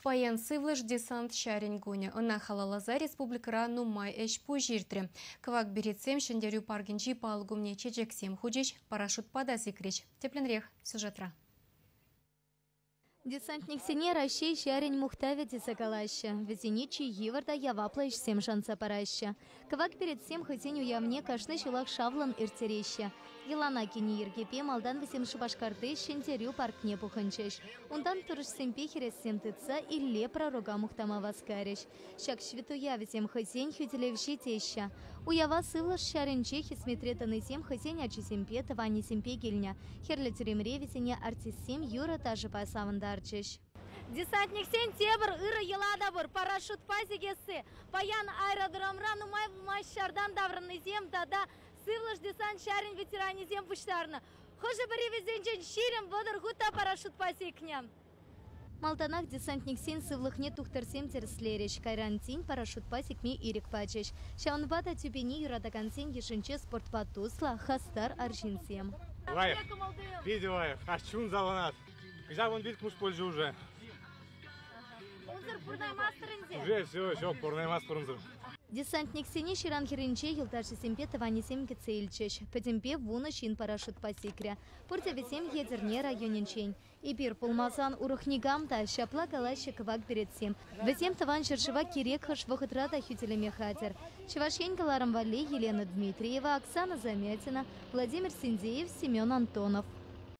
Паян сывлӑш десант ҫарӗн кунӗ. Ӑна халалласа республикӑра нумай ӗҫ-пуҫ иртрӗ. Кӑвак беретсем Ҫӗнтерӳ паркӗнчи палӑк умне чечексем хучӗҫ, парашютпа та сикрӗҫ. Тӗплӗнрех сюжетра. Десантниксене Раҫҫей ҫарӗн мухтавӗ тесе калаҫҫӗ. Вӗсене чи йывӑр та яваплӑ ӗҫсем шанса параҫҫӗ. Кӑвак перӗтсем хӑйсен уявне кашни ҫулах шавлӑн ирттереҫҫӗ. Йӑлана кӗнӗ йӗркепе малтан вӗсем Шупашкарти Ҫӗнтерӳ паркне пухӑнчӗҫ. Унтан турӑшсемпе хӗрессем тытса Илле пророка мухтама васкарӗҫ. Ҫак ҫветтуя вӗсем хӑйсен хӳтӗлевҫи теҫҫӗ. Уява сывлӑш ҫарӗнче хӗсметре тӑнисем хӑйсен ачисемпе, тӑванӗсемпе килнӗ. Хӗрлӗ тӳремре вӗсене артистсем юрӑ-ташӑпа савӑнтарчӗҫ. Десантниксен тепӗр ырӑ йӑлатӑпӑр, парашютпа сикесси. Паян аэродромра нумай пулмасть ҫартан таврӑннисем тата сывлӑш десант ҫарӗн ветеранӗсем пуҫтарнӑ. Хӑшӗ-пӗри вӗсенчен ҫирӗм вӑтӑр хут та парашютпа сикнӗ. Малтанах десантниксен сывлӑхне тухтӑрсем тӗрӗслерӗҫ, кайран тин парашютпа сикме ирӗк пачӗҫ. Ҫавӑнпа та тӳпене юратакансен йышӗнче спортпа туслӑ, хастар арҫынсем. Лайӑх, питӗ лайӑх, каҫ чун савӑнать. Кӑҫал вун вилкмус пулчӗ уже. Унсӑр пурӑнаймастӑр ӗнтӗ? Уже все, все, пурӑнаймастпӑр унсӑр. Десантниксене ҫыран хӗрринче йӑлташӗсемпе тӑванӗсем кӗтсе илчӗҫ. Пӗтӗмпе вунӑ ҫын парашютпа сикрӗ. Пурте вӗсем Етӗрне районӗнчен. Эпир пулмасан урӑх никам та, ҫапла калаҫҫӗ кӑвак беретсем. Вӗсем тӑван ҫӗршыва кирек хӑш вӑхӑтра та хӳтӗлеме хатӗр. Чӑваш Ен кӑларӑм валли Елена Дмитриева, Оксана Замятина, Владимир Синдеев, Семен Антонов.